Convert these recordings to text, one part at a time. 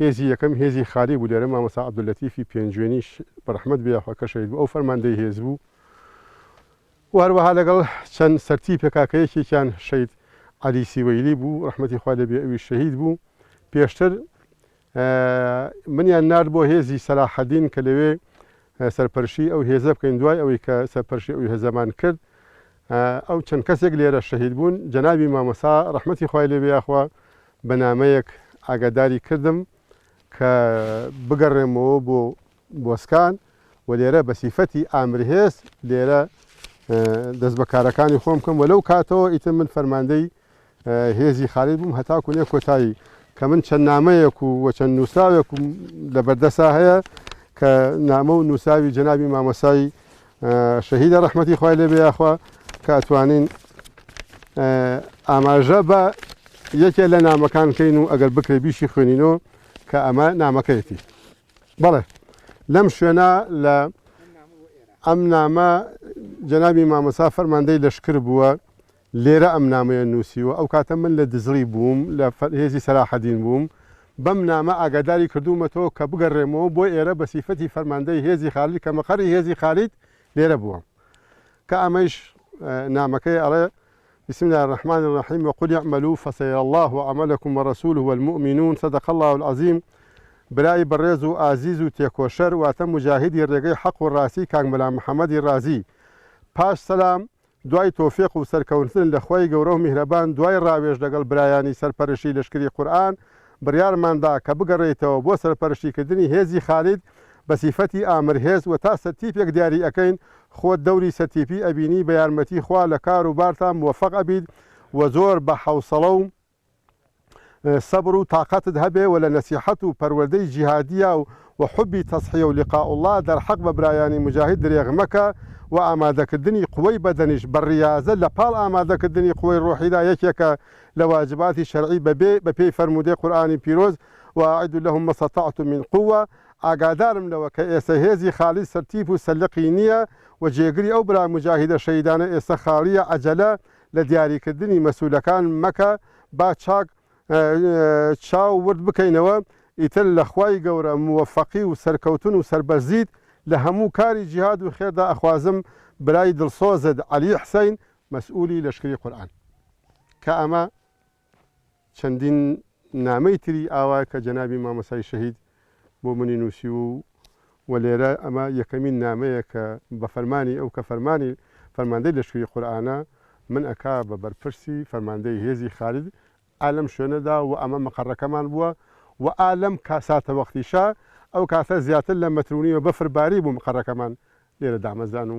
هێزی یەکەم هێزی خالی بوو لێرە مامۆستا عەبدولەتیفی پێنجوێنیش بەڕەحمەت بێ یاخوا کە شەهید بوو ئەو فەرماندەی هێز بوو و هەروەها لەگەڵ چەند سەرتی پێکاکە یەکێکیان شەید عەلی سیوەیلی بوو ڕەحمەتی خوا لێ بێ ئەویش شەهید بوو پێشتر منیان نارد بۆ هێزی سەلاحەدین کە لەوێ سەرپەرشی ئەو هێزە بکەین دوای ئەوەی کە سەرپەرشی ئەو هێزەمان کرد ئەو چەند کەسێک لێرە شەهید بوون جەنابی مامەسا ڕەحمەتی خوای لێ بێ یاخوا بە نامەیەک ئاگاداری کردم کە بگەڕێمەوە بۆ بۆسکان و لێرە بە سیفەتی ئامرهێز لێرە دەست بە کارەکانی خۆم بکەم و لەو کاتەوە ئیتر من فەرماندەی هێزی خالید بووم هەتاکو نێ کۆتایی کە من چەند نامەیەک و وە چەند نووسراوێک و لە بەردەسا هەیە کە نامە و نووساوی جەنابی مامەسایی شەهیدە ڕەحمەتی خوای لێبێ یاخوا کە ئەتوانین ئاماژە بە یەکێ لە نامەکان کەین و ئەگەر بکرێ بیشی خوێنینەوە کە ئەمە نامەکەیەتی بەڵێ لەم شوێنە لە ئەم نامە جەنابی مامەسا فەرماندەی لەشکر بووە لێرە ئەم نامەیە نووسیوە، ئەو کاتە من لە دزڵی بووم، لە هێزی سەلاحەدین بووم، بەم نامە ئاگاداری کردوومەتەوە کە بگەڕێمەوە بۆ ئێرە بە سیفەتی فەرماندەی هێزی خالید کە مەقەڕی هێزی خالید لێرە بووە کە ئەمەیش نامەکەی ئەڵێ بسم الله الرحمن الرحیم و قل اعملوا فسیر الله عملكم ورسوله والمؤمنون صدق الله العظیم برای بەڕێز و ئازیز و تێکۆشەر واتە مجاهدی ڕێگەی حەق و ڕاستی کاک مەلا محەممەدی ڕازی پاش سەلام دوای تۆفیق و سەرکەونتن لە خوای گەورەو میهرەبان دوای ڕاوێژ لەگەڵ برایانی سەرپەرشی لەشکری قورئان بڕیارمان دا کە بگەڕێیتەوە بۆ سەرپەرشتی کردنی هێزی خالید بە سیفەتی ئامر هێز وە تا سەرتیپێک دیاری ئەکەین خۆت دەوری سەرتیپی ئەبینی بە یارمەتی خوا لە کار و بارتا موەفەق ئەبیت وە زۆر بە حەوسەڵە و سەبر و تاقەتت هەبێ و لە نەسیحەت و پەروەردەی جیهادییا و و حوبی تەزحیە و لقاء اللە دەرحەق بە برایانی موجاهید درێغ مەکە و ئامادەکردنی قوەی بەدەنیش بە ریازە لە پاڵ ئامادەکردنی قوەی روحیدا یەکێکە لە واجباتی شەرعی بە بێ بە پێی فەرموودەی قورئانی پیرۆز واعدوا لهم ما استطعتم من قوە ئاگادارم لەوە کە ئێستە هێزی خالید سەرتیپ و سەرلقی نییە و جێگری ئەو برا موجاهیدە شەهیدانە ئێستە خاڵییە عەجەلە لە دیاریکردنی مەسولەکان مەکە با چاک چاو ورد بکەینەوە ئیتر لە خوای گەورە موەفەقی و سەرکەوتن و سەربەرزیت لە هەموو کاری جیهاد و خێردا ئەخوازم برای دڵسۆزت عەلی حسین مەسولی لەشکری قورئان کە ئەمە چەندین نامەی تری ئاوا کە جەنابی مامۆستای شەهید بۆ منی نووسیوو و لێرە ئەمە یەکەمین نامەیە کە بە فەرمانی ئەو کە فەرمانی فەرماندەی لەشکری قورئانە من ئەکا بە بەرپرسی فەرماندەی هێزی خالد ئا لەم شوێنەدا و ئەمە مەقەڕەکەمان بووە و ئا لەم کا ساتەوەختیشە ئەو کاتە زیاتر لە مەترو نیوە بەفر باری بوو مقەڕەکەمان لێرە دامەزران و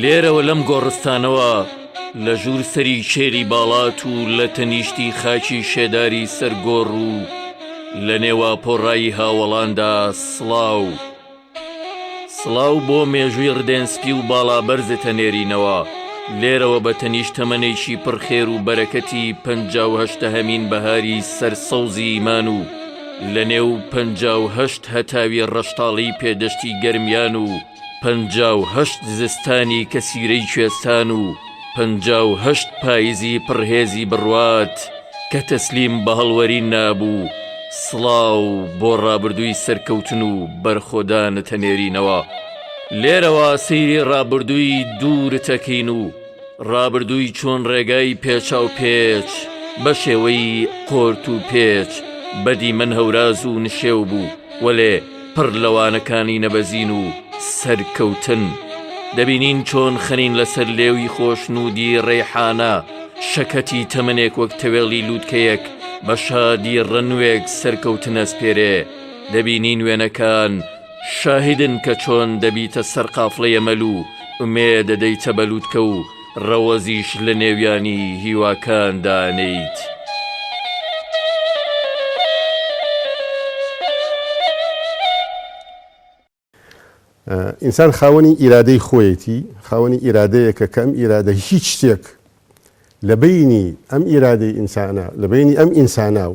لێرەوە لەم گۆڕستانەوە لە ژوور سەری کێلی باڵات و لە تەنیشتی خاکی شێداری سەرگۆڕ و لە نێوا پۆڕایی هاوەڵاندا سڵاو سڵاو بۆ مێژووی ڕدێنسپی و باڵا بەرزتە نێرینەوە لێرەوە بە تەنیش تەمەێکی پڕخێر و بەرەکەتی پهمین بەهاری سەر سەوزی ئیمان و لە نێو پهشت هەتاوی ڕەشتاڵی پێدەشتی گەرمیان و پەنجا و هەشت زستانی کەسیرەی کوێستان و پەنجا و هەشت پایزی پڕ هێزی بڕوات کە تەسلیم بە هەڵوەرین نابوو، سڵاو بۆ ڕابردووی سەرکەوتن و بەرخۆدانت ئەنێرینەوە. لێرەوە سەیری ڕابردووی دوورت ئەکەین و ڕابردووی چۆن ڕێگای پێچاوپێچ بە شێوەی قۆرتوپێچ بە دیمەن هەوراز و نشێو بوو، وەلێ، پڕ لە وانەکانی نەبەزین و سەرکەوتن، دەبینین چۆن خەنین لەسەر لێوی خۆشنوودی ڕەیحانە شەکەتی تەمەنێک وەک تەوێڵی لووتکەیەک بە شادی ڕەنوێک سەرکەوتن ئەسپێرێ، دەبینین وێنەکان شاهیدن کە چۆن دەبیتە سەرقافڵەی ئەمەل و ئومێد دەدەیتە بە لووتکە و ڕەوەزیش لە نێویانی هیواکان دانێیت. ئینسان خاوەنی ئیرادەی خۆیەتی، خاوەنی ئیرادەیەکە کە ئەم ئیرادە هیچ شتێک لە بەینی ئەم ئیرادەی ئینسانە، لە بەینی ئەم ئینسانە و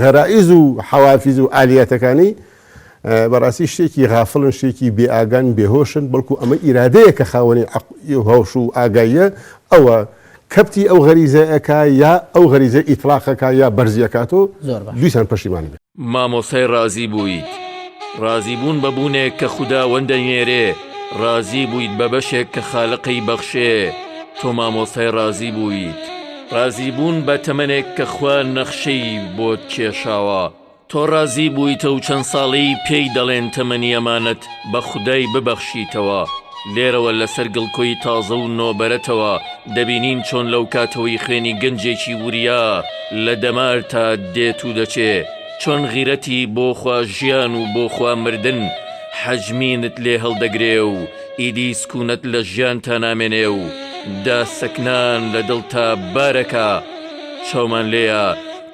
غەرایز و حەوافیز و ئالیاتەکانی بەڕاستی شتێکی غافڵن، شتێکی بێ ئاگان، بێ هۆشن، بەڵکو ئەمە ئیرادەیە کە خاوەنی عەقڵ و هۆش و ئاگاییە، ئەوە کەبتی ئەو غەریزە ئەکا یا ئەو غەریزە ئیتڵاق ئەکا یا بەرزی ئەکاتۆ، زۆر باش. دیسان پەشیمان ئەبێ. مامۆستای ڕازی بوویت ڕازی بوون بە بوونێک کە خوداوەند دەینێرێ ڕازی بوویت بە بەشێک کە خالقی بەخشێ تۆ مامۆستای ڕازی بوویت. ڕازی بوون بە تەمەنێک کە خوا نەخشەی بۆت کێشاوە تۆ ڕازی بوویتە و چەند ساڵی پێی دەڵێن تەمەنی ئەمانەت بە خودای ببەخشیتەوە لێرەوە لەسەر گڵکۆی تازە و نۆبەرەتەوە دەبینین چۆن لەو کاتەوەی خوێنی گەنجێکی وریا لە دەمارتا دێت و دەچێ چۆن غیرەتی بۆ خوا ژیان و بۆ خوا مردن حەجمینت لێ هەڵدەگرێ و ئیدی سکوونەت لە ژیانتا نامێنێ و داسەکنان لە دڵتا بارەکا چاومان لێیە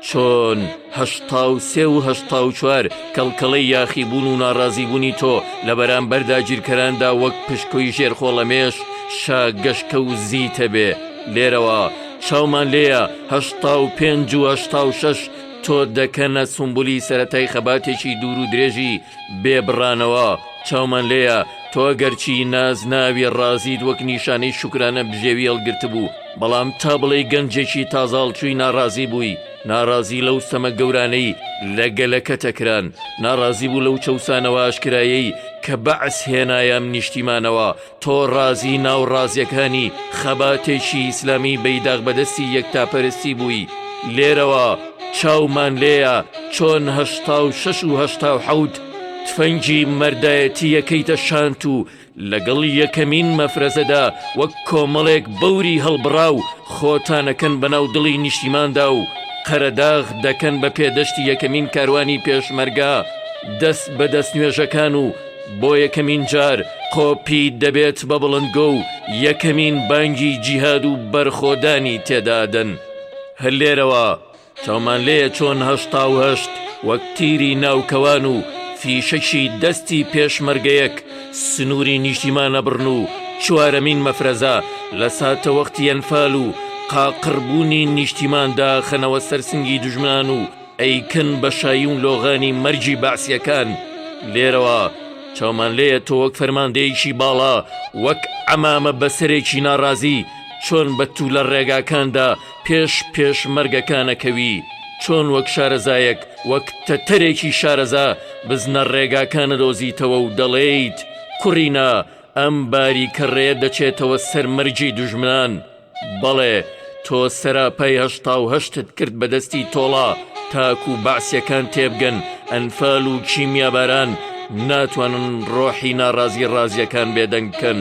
چۆن هەشتا و سێ و هەشتا و چوار کەڵکەڵەی یاخیبوون و ناڕازیبوونی تۆ لە بەرامبەر داگیرکەراندا وەک پشکۆی ژێرخۆڵەمێش شا گەشکە و زیتە بێ لێرەوە چاومان لێیە هەشتا و پێنج و هەشتا و شەش تۆ دەکەنە سمبولی سەتای خەباتێکی دوور و درێژی بێبڕانەوە چاومان لێیە تۆ گەرچی نازناوی ڕازیت وەک نیشانەی شوکرانە بژێوی هەڵگرتبوو، بەڵام تا بڵێی گەنجێکی تازەهەڵچووی ناڕازی بووی، ناڕازی لەو ستەمە گەورانەی لە گەلەکەتە کران، ناڕازی بوو لەو چەوسانەوە ئاشکرایەی کە بەعس هێنایە ئەم نیشتیمانەوە، تۆڕازی ناوڕازیەکانی خەباتێکی ئیسلامی بەیداغ بەدەستی یەکتاپەرستی بووی لێرەوە چاومان لێیە چۆن هەشتا و شەش و هەشتا و حەوت تفەنگی مەردایەتی یەکەیتە شانت و لەگەڵ یەکەمین مەفرەزەدا وەک کۆمەڵێک بەوری هەڵبڕا و خۆتانەکەن بەناو دڵی نیشتیماندا و قەرەداغ دەکەن بە پێدەشتی یەکەمین کاروانی پێشمەرگە دەست بە دەستنوێژەکان و بۆ یەکەمین جار قۆپی دەبێت بە بڵندگۆ و یەکەمین بانگی جیهاد و بەرخۆدانی تێدا ئەدەن. هەر لێرەوە چاومان لێیە چۆن هەشتا و هەشت وەک تیری ناو کەوان و فیشەکی دەستی پێشمەرگەیەک سنووری نیشتیمان ئەبڕن و چوارەمین مەفرەزە لە ساتەوەختی ئەنفال و قاقڕبوونی نیشتیمان داخەنەوە سەر سنگی دوژمنان و ئەیکەن بە شاییو لۆغانی مەرگی بەعسیەکان، لێرەوە چاومان لێیە تۆ وەک فەرماندەیەکی باڵا وەک عەمامە بەسەرێکی ناڕازی چۆن بە تولە ڕێگاکاندا پێش پێشمەرگەکان ئەکەوی چۆن وەک شارەزایەک وەک تەتەرێکی شارەزا بزنە ڕێگاکان ئەدۆزیتەوەو دەڵێیت کوڕینە ئەم باریکە ڕێیە دەچێتەوە سەر مەرگی دوژمنان بەڵێ تۆ سەراپای هەشتا و هەشتت کرد بە دەستی تۆڵە تاکو و بەعسیەکان تێبگەن ئەنفال و کیمیاباران ناتوانن ڕۆحی ناڕازی ڕازیەکان بێدەنگکەن.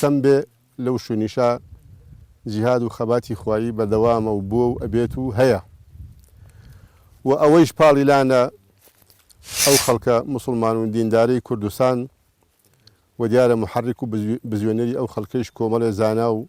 سم بێ لەو شونیشا جیهاد و خەباتی خوایی بەردەوامە و بووە و ئەبێت و هەیە و ئەوەیش پاڵی لانە ئەو خەڵکە موسڵمان و دیندارەی کوردستان و دیارە محرک و بزوێنەری ئەو خەڵکەیش کۆمەڵێ زانا و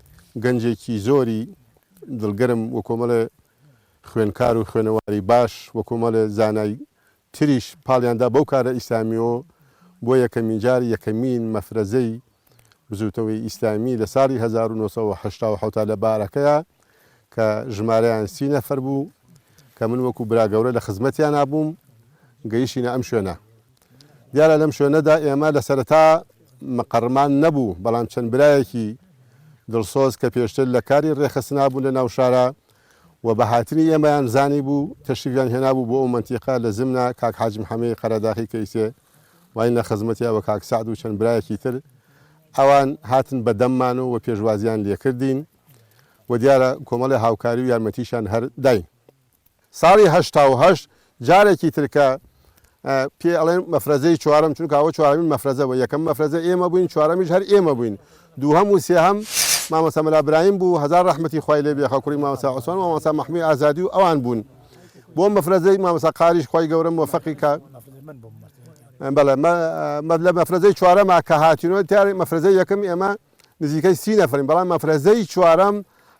گەنجێکی زۆری دڵگەرم وکۆمەڵێ خوێنکار و خوێنەواری باش وکۆمەڵێ زانای تریش پاڵیان دا بەو کارە ئیسلامیەوە بۆ یەکەمین جار یەکەمین مەفرەزەی بزوتنەوەی ئیسلامی لە ساڵی هەزار و نۆ سەد و حەشتا و حەوت لە بارەکەیا کە ژمارەیان سی نەفەر بوو کە من وەکو براگەورە لە خزمەتیانا بووم گەیشتینە ئەم شوێنە دیارە لەم شوێنەدا ئێمە لە سەرەتا مقەڕمان نەبوو، بەڵام چەند برایەکی دڵسۆز کە پێشتر لە کاری ڕێخستنا بوون لە ناو شارا و بە هاتنی ئێمەیان زانیبوو، تەشریفیان هێنابوو بۆ ئەو مەنتیقە لە زمنا کاک حاج محەمەی قەرەداخی کە ئیسێ واین لە خزمەتیا و کاک سەعد و چەند برایەکی تر ئەوان هاتن بە دەممان و پێشوازیان لێکردین و دیارە کۆمەڵێ هاوکاری و یارمەتیشیان هەر داین. ساڵی هەشتا و هەشت جارێکی تر کە پێی ئەڵێن مەفرەزەی چوارەم چونکە ئەوە چوارەمین مەفرەزە بوو یەکەم مەفرەزە ئێمە بووین چوارەمیش هەر ئێمە بووین دووهەم و سێهەم مامۆستا مەلا برایم بوو هەزار ڕەحمەتی خوای لێ بێ خەکوڕی مامۆستا عوسمان مامۆستا محموی ئازادی و ئەوان بوون بۆ مەفرەزەی مامۆستا قاریش خوای گەورە موفقی کە بەڵێ لە مەفرەزەی چوارەما کە هاتینەوە تیارێک مەفرەزەی یەکەم ئێمە نزیکەی سی نەفەرین، بەڵام مەفرەزەی چوارەم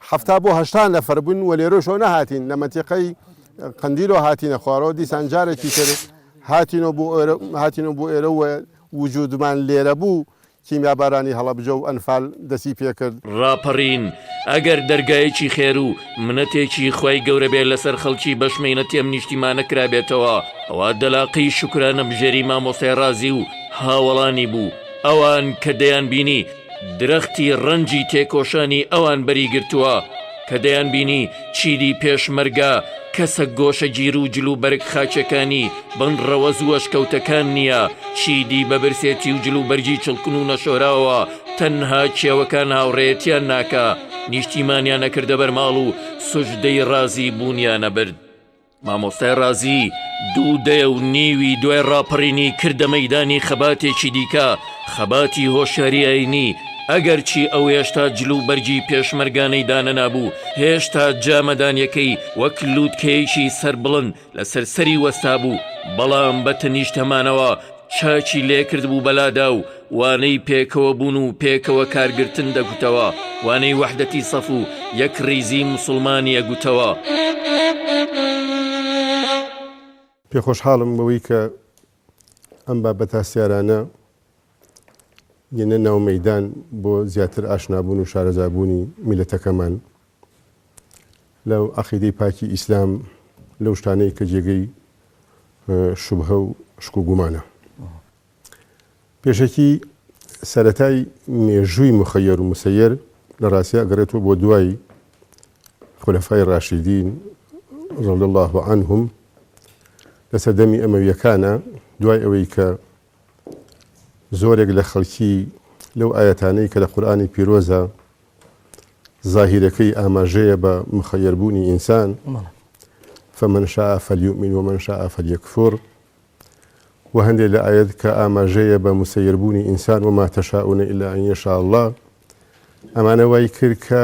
حەفتا بۆ هەشتا نەفەر بووین و لێرەشەوە نەهاتین، لە مەنتیقەی قەندیلەوە هاتینە خوارەوە، دیسان جارێکی تر هاتینەوە بۆ ئێرە و وجوودمان لێرە بوو، کیمیابارانی هەڵەبجە و ئەنفال دەستی پێ کرد. ڕاپەڕین ئەگەر دەرگایەکی خێر و منەتێکی خوای گەورە بێ لەسەر خەڵکی بەش مەینەتی ئەم نیشتیمانە کرابێتەوە، ئەوا دەلاقەی شوکرانەبژێری مامۆستای ڕازی و هاوەڵانی بوو، ئەوان کە دەیانبینی درەختی ڕەنجی تێکۆشانی ئەوان بەری گرتووە، کە دەیانبینی چیدی پێشمەرگە کەسە گۆشەگیر و جلوبەرگ خاکیەکانی بن ڕەوەز و ئەشکەوتەکان نییە، چیدی بە برسێتی و جلوبەرگی چڵکن و نەشۆراوە تەنها کێوەکان هاوڕێیەتیان ناکا، نیشتیمانیان ئەکردە بەرماڵ و سوجدەی ڕازی بوونیان ئەبرد. مامۆستای ڕازی دوو دەیە و نیوی دوای ڕاپەڕینی کردە مەیدانی خەباتێکی دیکە، خەباتی هۆشیاری ئایینی، ئەگەرچی ئەو هێشتا جل و بەرگی پێشمەرگانەی دانەنابوو، هێشتا جامەدانیەکەی وەک لووتکەیەکی سەربڵند لەسەر سەری وەستابوو، بەڵام بە تەنیشت هەمانەوە، چاکی لێکردبوو بەلادا و وانەی پێکەوە بوون و پێکەوە کارگرتن دەگوتەوە وانەی وەحدەتی سەف و یەک ریزی موسڵمانی ئەگوتەوە. پێخۆشحاڵم بەوەی کە ئەم بابەت هەستیارانە یەنە ناو مەیدان بۆ زیاتر ئاشنابوون و شارەزابوونی میللەتەکەمان. لە عەقیدەی پاکی ئیسلام لەو شتانەی کە جێگەی شوبهە و شک و گومانە. پێشەکی سەرەتای مێژووی مخەیەر و مسەیەر لە ڕاستیا ئەگەڕێتەوە بۆ دوای خولەفای ڕاشیدین رضی الله عنهم لە سەردەمی ئەمەویەکانە دوای ئەوەی کە زۆرێک لە خەڵکی لەو ئایەتانەی کە لە قورئانی پیرۆزە زاهیرەکەی ئاماژەیە بە مخەیەربوونی ئینسان فمن شاء فلیؤمن ومن شاء فلیکفر و هەندێک لە ئاەت کە ئاماژەیە بە مسەیربوونی ئینسان وما تەشاونە ئیلا ئەنیشاء الله ئەمانە وای کرد کە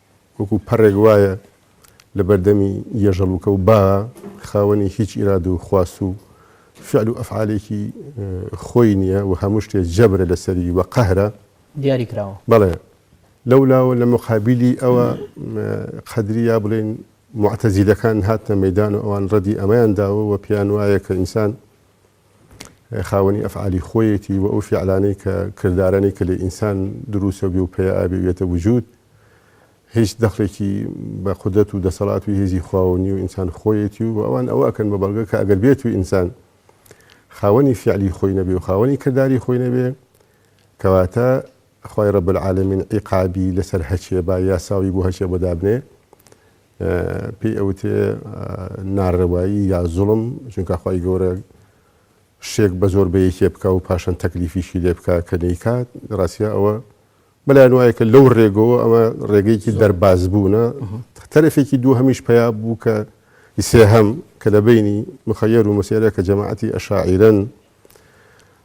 وەکو پەڕێک وایە لە بەردەمی یەژەڵوکە و با خاوەنی هیچ ئیراد و خواست و فعل و ئەفعالێکی خۆی نییە و هەموو شتێ جەبرە لە سەری و قەهرە دیاری کراوە. بەڵێ لەو لاوە لە موقابیلی ئەوە قەدری یا بڵێین موعتەزیلەکان هاتنە مەیدان و ئەوان ڕەدی ئەمەیان داوە و پێیان وایە کە ئینسان خاوەنی ئەفعالی خۆیەتی و ئەو فیعلانەی کە کردارانەی کە لە ئینسان دروسە بێ و پەیا ئابێ وێتە وجود هیچ دەخلێکی بە قودرەت و دەسەڵات و هێزی خواوە نیو ئینسان خۆیەتی و ئەوان ئەوە ئەکەن بە بەڵگە کە ئەگەر بێتو ئینسان خاوەنی فیعلی خۆی نەبێ و خاوەنی کرداری خۆی نەبێ کەواتە خوای رب العالمین عیقابی لەسەر هەچێ با یاساوی بۆ هەچێ بۆ دابنێ پێی ئەوترێ نارەوایی یا زوڵم چونکە خی گەورە شتێک بە زۆر بەیەکێ بکە و پاشان تەکلیفیشی لێ بکە کە دەیکات ڕاستە ئەوە بەلایەن وایە کە لەو ڕێگەوە ئەمە ڕێگەیەکی دەرباز بوونە تەرەفێکی دوو هەمیش پیا بوو کە سێ هەم کە لە بینی مخەیەر و مسێرە کە جەماعەتی ئەشاعیرەن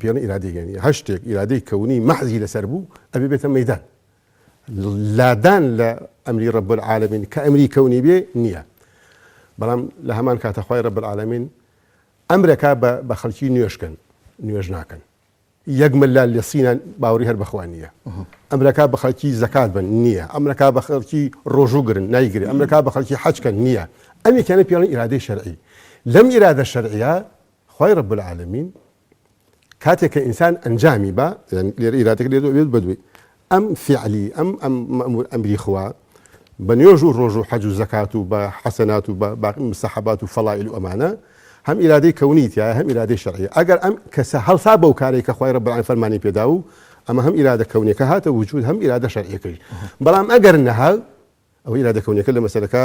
پێ نە ئیرادەی گەنی هەر شتێک ئیرادەی کەونی مەحزی لەسەر بوو ئەبێ بێتە مەدان لادان لە ئەمری ڕب العالمین کە ئەمری کەونی بێ نییە بەڵام لە هەمان کاتەخوای ڕب العالمین ئەمرەکە بە خەڵکی نوێشکن نوێژ ناکەن یەک ملا لە سینە باوری هەر بەخوا نییە ئەمرەکە بە خەڵکی زەکات بن نییە ئەمرەکە بە خەڵکی ڕۆژوو گرن نایگرێت ئەمرەکە بە خەڵکی حەجکەن نییە ئەمی کەنە پێڵی ئیرادەی شەرعی لەم ئیرادە شەرعە خوای رب العالمین کاتێک کە ئینسان ئەنجامی با یانی لێرە ئیرادەکە لێرە ئەبێت بەدوێی ئەم فیعلی ئەم ئەم مەمور ئەمری خوا بە نوێژ و ڕۆژ و حەج و زەکات و بە حەسەنات و بە باقی مسەحەبات و فەڵائیل و ئەمانە هەم ئیرادەی کەونی تایە هەم ئیرادەی شەرعی ئەگەر ئەم کەسە هەڵسا بەو کارێک کە خوای رب العالمین فەرمانی پێدا و ئەمە هەم ئیرادە کەونیەکە هاتە وجود هەم ئیرادە شەرعیەکەی بەڵام ئەگەر نەها ئەو ئیرادە کەونیەکە لە مەسەلەکە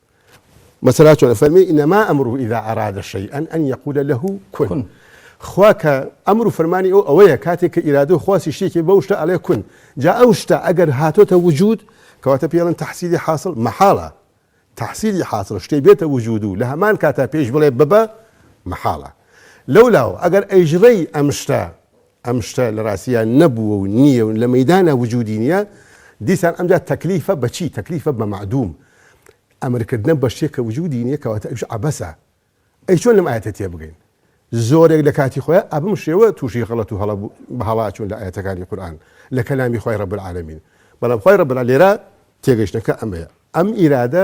مەسەلا چۆنە فەرمی ئینەما ئەمرو ئیدا ئەرادە شەیئەن ئەن یەقولە لەه کون خوا کە ئەمر و فەرمانی ئەو ئەوەیە کاتێک کە ئیرادە و خواسی شتێکی بەو شتە ئەڵێ کون جا ئەو شتە ئەگەر هاتۆتە وجود کەواتە پێڵن تحسیلی حاصل مەحاڵە تحسیلی حاصل شتێ بێتە وجود و لە هەمان کاتا پێش بڵێ ببە مەحاڵە لەولاوە ئەگەر ئەیژڕەی ئەم شتە ئەم شتە لە ڕاستیدا نەبووە و نییە و لە مەیدانا وجودی نییە، دیسان ئەمجا تەکلیفە بە چی؟ تەکلیفە بە مەعدووم. ئەمرکردنە بە شتێک کە وجودی نییە، کەواتە ئەویش عەبەسە. ئەی چۆن لەم ئایەتە تێبگەین؟ زۆرێک لە کاتی خۆیان ئە بەم شێوە تووشی غەڵەت و هەڵە بوو، بە هەڵە ئەچوون لە ئایەتەکانی قورئان، لە کەلامی خوای رب العالمین. بەڵام خوای رب العالمین لێرە تێگەیشتنەکە ئەمەیە، ئەم ئیرادە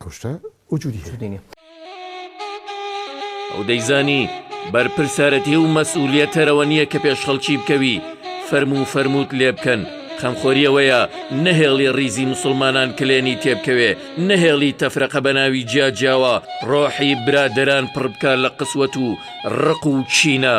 ئەو شتە وجودی هەیە. ئەو دەیزانی بەرپرسارەتی و مەسئولیەت تەرەوە نیە کە پێش خەڵکی بکەوی فەرموو فەرمووت لێ بکەن، خەمخۆری ئەوەیە نەهێڵی ڕیزی موسڵمانان کلێنی تێ بکەوێ، نەهێڵی تەفرەقە بە ناوی جیا جیاوە ڕۆحی برادەران پڕ بکا لە قسوەت و ڕق و کینە.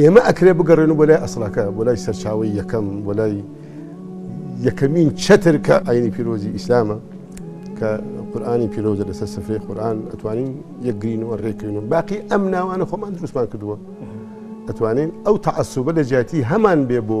ئێمە ئەکرێ بگەڕێنو بۆ لای ئەسڵەکە، بۆ لای سەرچاوەی یەکەم، بۆ لای یەکەمین چەتر کە ئاینی پیرۆزی ئیسلامە، کە قورئانی پیرۆزە لەسەر سفرەی قورئان ئەتوانین یەکگرینو ئەڕێکەوینو باقی ئەم ناوانە خۆمان دروستمان کردوە، ئەتوانین ئەو تەعەسوبە لەجیاتی هەمان بێ بۆ.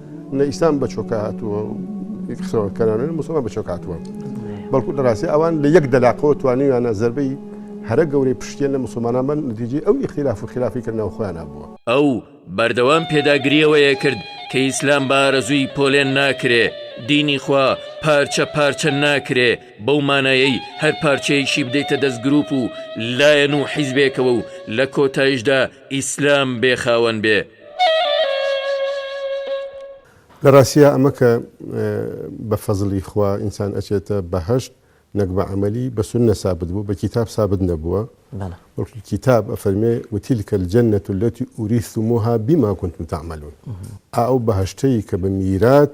نە ئیسلام بە چۆکە هاتووە و قسەکەرانە مسلمان بە چۆک هاتووە بەڵکو دەڕاستی ئەوان لە یەک دەلاقەوە توانیویانە زربەی هەرە گەورەی پشتێن لە مسلمانان بن نتیجی ئەو ئیخلاف و خلافی کردنەوە خۆیانە بووە ئەو بەردەوام پێداگریەوەیە کرد کە ئیسلام بارەزووی پۆلێن ناکرێ دینی خوا پارچە پارچە ناکرێ بەو مانایەی هەر پارچەیەکی بدەیتە دەست گروپ و لایەن و حیزبێکەوە و لە کۆتایشدا ئیسلام بێ خاوەن بێ. لە ڕاستیا ئەمە کە بە فەزڵی خوا ئینسان ئەچێتە بەهەشت نەک بە عەمەلی بە سوننە سابت بوو بە کیتاب سابت نەبووە بەڵکو کیتاب ئەفەرمێ وتیلکە الجنە التی اوریثتموها بما کنتم تعملون ئا ئەو بەهەشتەی کە بە میرات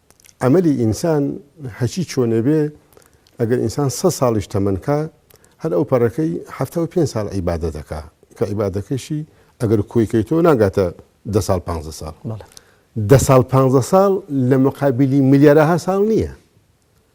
ئەمەلی ئینسان هەچی چۆنێ بێ ئەگەر ئینسان سەد ساڵیش تەمەن کا هەر ئەو پەڕەکەی حەفتا و پێنج ساڵ عیبادەت دەکا کە عیبادەکەشی ئەگەر کۆی کەیتۆ ناگاتە دە ساڵ پانزە ساڵ دە ساڵ پانزە ساڵ لە مقابلی ملیارەها ساڵ نییە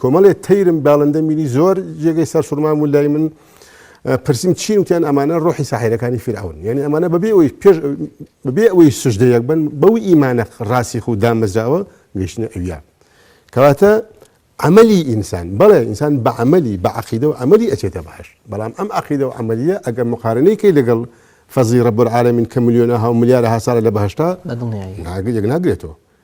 کۆمەڵێ تەیرم باڵندە میری زۆر جێگەی سەرسوڕمان و لای من پرسیم چین وتیان ئەمانە ڕۆحی ساحیرەکانی فیرعون یعنی ئەمانە بەبێ ئەوی پێش بەبێ ئەوەی سوژدەیەک بن بەو ئیمانە ڕاستیخ و دامەزراوە گەشتنە ئەویا کەواتە عملی ئینسان بەڵێ ئینسان بە عملی بە عقیدە و عملی ئەچێتە باش بەڵام ئەم عقیدە و عملیە ئەگەر مقارنەیەکی لەگەڵ فەزی ڕەبەر عالمین کە ملیۆنە ها ملیارە هاسارە لە بەهشتا ناگرێت یەک ناگرێتەوە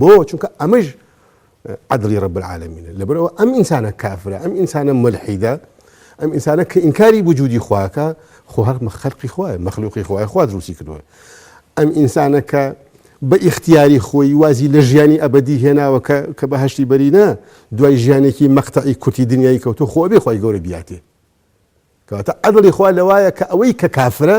بۆ چونکە ئەمەش عدلی رب العالمینە لەبەرەوە ئەم ئینسانە کافرە ئەم ئینسانە ملحیدە ئەم ئینسانە کە ئینکاری وجودی خواکە خۆ هەر مەخەرقی خوای مەخلوقی خوای خوا دروستی کردووە ئەم ئینسانە کە بە ئیختیاری خۆی وازی لە ژیانی ئەبدی هێناوە کە کە بە هەشتی بەرینە دوای ژیانێکی مەقتەعی کورتی دنیای کەوتو خۆ بێ خۆی گەورە بیاتێ کەواتە عدلی خوا لەوایە کە ئەوەی کە کافرە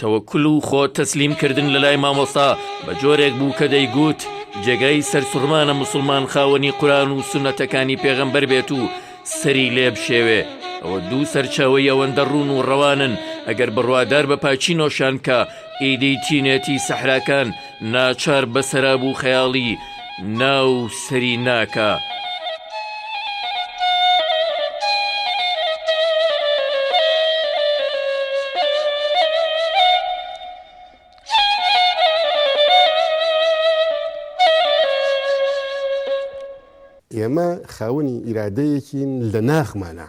تەوەکول و خۆ تەسلیم کردن لە لای مامۆستا بە جۆرێک بوو کە دەیگووت جێگای سەرسوڕمانە موسڵمان خاوەنی قوران و سونەتەکانی پێغەمبەر بێت و سەری لێ بشێوێ ئەوە دوو سەرچاوەی ئەوەندە ڕوون و ڕەوانن ئەگەر بڕوادار بە پاچینۆشان کە ئیدی چینێتی سەحراکان ناچار بە سەراب و خەیاڵی ناو سەری ناکا. ئێمە خاوەنی ئیرادەیەکین لە ناخمانا.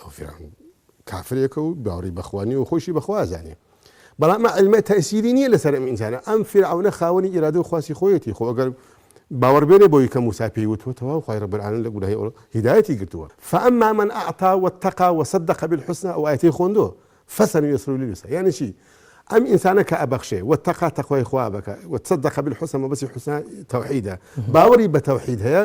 ئەو فیرعەون کافرێکە و باوەڕی بەخوا نییە و خۆیشی بەخوا ئەزانێ بەڵام ئەمە عیلمە تەئسیری نییە لەسەر ئەم ئینسانە ئەم فیرعەونە خاوەنی ئیرادە و خواسی خۆیەتی خۆ ئەگەر باوەڕ بێنێ بۆی کە موسا پێی وتوە تەواو خوای رب العالمین لە گوناهی ئەو هیدایەتی گرتووە فاما من اعطا واتقا وصدق بالحسنى ئەو ئایەتی خۆندۆ فسنیسرو لليسرى یعنی چی ئەم ئینسانە کە ئەبەخشێ و تەقا تەخوای خوا بکە و تصدق بالحسنى مەبەسی حسنى توحیدە باوەڕی بە توحید هەیە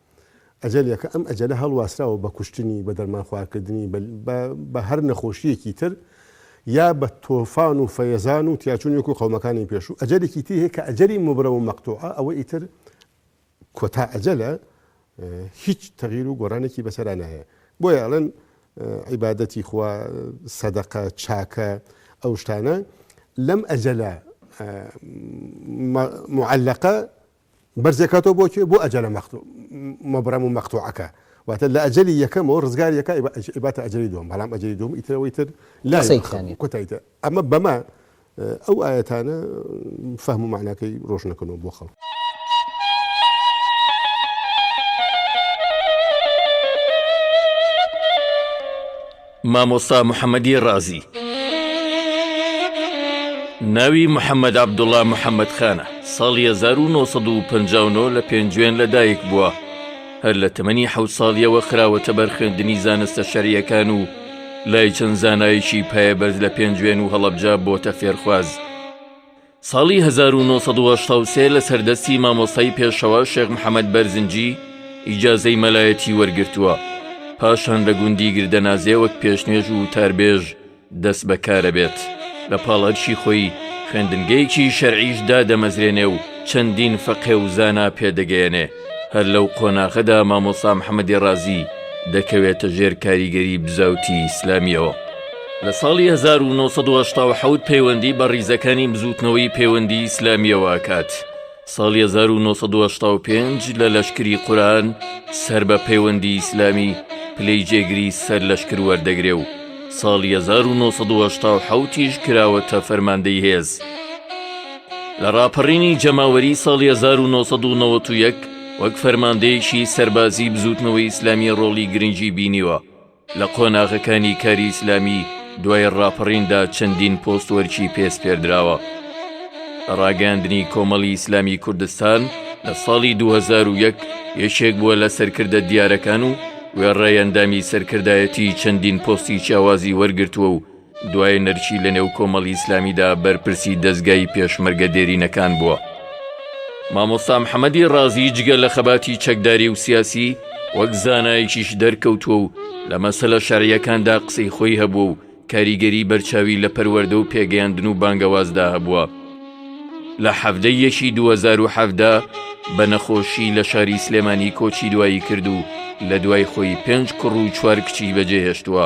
ئەجەلەکە ئەم ئەجەلە هەڵواسراوە بە کوشتنی، بە دەرمانخوارکردنی، بە بە هەر نەخۆشییەکی تر، یا بە تۆفان و فەیەزان و تیاچوون وەکوو قەومەکانی پێشوو. ئەجەلێکی تری هەیە کە ئەجەلی موبرەم و مەقتوعە، ئەوە ئیتر کۆتا ئەجەلە، هیچ تەغییر و گۆڕانێکی بەسەرا نایە. بۆیە ئەڵێن عیبادەتی خوا، سەدەقە، چاکە، ئەو شتانە لەم ئەجەلە موعەلەقە بەرز دەکاتەوە بۆ کوێ؟ بۆ ئەجەلە مەقت مبرم و مقطوعەکە واتە لە ئەجەلی یەکەمەوە ڕزگاری دەکا ئیباتە ئەجەلی دووەم بەڵام ئەجەلی دووەم ئیتر ئەوەی تر لا قسەی تیا نیە کۆتایی تیا ئەمە بەمە ئەو ئایەتانە فەهم و معناکەی ڕۆژ نەکەنەوە بۆ خەڵک. مامۆستا محەمەدی ڕازی ناوی محەمەد عەبدوڵا محەمەد خانە ساڵی هەزار و نۆ سەد و پەنجا و نۆ لە پێنجوێن لەدایک بووە هەر لە تەمەنی حەوت ساڵیەوە خراوەتە بەر خوێندنی زانستە شەریەکان و لای چەند زانایەکی پایەبەرز لە پێنجوێن و هەڵەبجە بۆتە فێرخواز ساڵی هەزار و نۆ سەد و هەشتا و سێ لەسەر دەستی مامۆستای پێشەوا شێخ محەمەد بەرزنجی ئیجازەی مەلایەتی وەرگرتووە، پاشان لە گوندی گردەنازێ وەک پێشنوێژ و وتاربێژ دەست بەکارەبێت، لە پاڵ ئەرکی خۆی خوێندنگەیەکی شەرعیش دادەمەزرێنێ و چەندین فەقێ و زانا پێدەگەیەنێ. هەر لەو قۆناغەدا مامۆسا محەمەدی ڕازی دەکەوێتە ژێر کاریگەری بزاوتی ئیسلامیەوە. لە ساڵی 1970 پەیوەندی بە ڕیزەکانی بزووتنەوەی پەیوەندی ئیسلامیەوە ئەکات. ساڵی 1995 لە لەشکری قوران سەر بە پەیوەندی ئیسلامی پلەی جێگری سەر لەشکر وەردەگرێ و ساڵی 1970 تیژ کراوەتە فەرماندەی هێز. لە ڕاپەڕینی جەماوەری ساڵی 1991 وەک فەرماندەیەکی سەربازی بزوتنەوەی ئیسلامی ڕۆڵی گرنگی بینیوە لە قۆناغەکانی کاری ئیسلامی دوای ڕاپەڕیندا چەندین پۆست وەرکی پێسپێردراوە لە ڕاگەاندنی کۆمەڵی ئیسلامی کوردستان لە ساڵی 2001 یەکێک بووە لە سەرکردە دیارەکان و وێڕای ئەندامی سەرکردایەتی چەندین پۆستی چیاوازی وەرگرتووە و دوایەنەرچی لە نێو کۆمەڵی ئیسلامیدا بەرپرسی دەستگای پێشمەرگە دێرینەکان بووە. مامۆستا محەممەدی ڕازی جگە لە خەباتی چەکداری و سیاسی وەک زانایکیش دەرکەوتووە و لە مەسەلە شەرعیەکاندا قسەی خۆی هەبوو و کاریگەری بەرچاوی لە پەروەردە و پێگەیاندن و بانگەوازدا هەبووە. لە حەڤدە یەکی دوو هەزار و حەڤدە بە نەخۆشی لە شاری سلێمانی کۆچی دوایی کرد و لە دوای خۆی پێنج کوڕ و چوار کچی بەجێهێشتووە.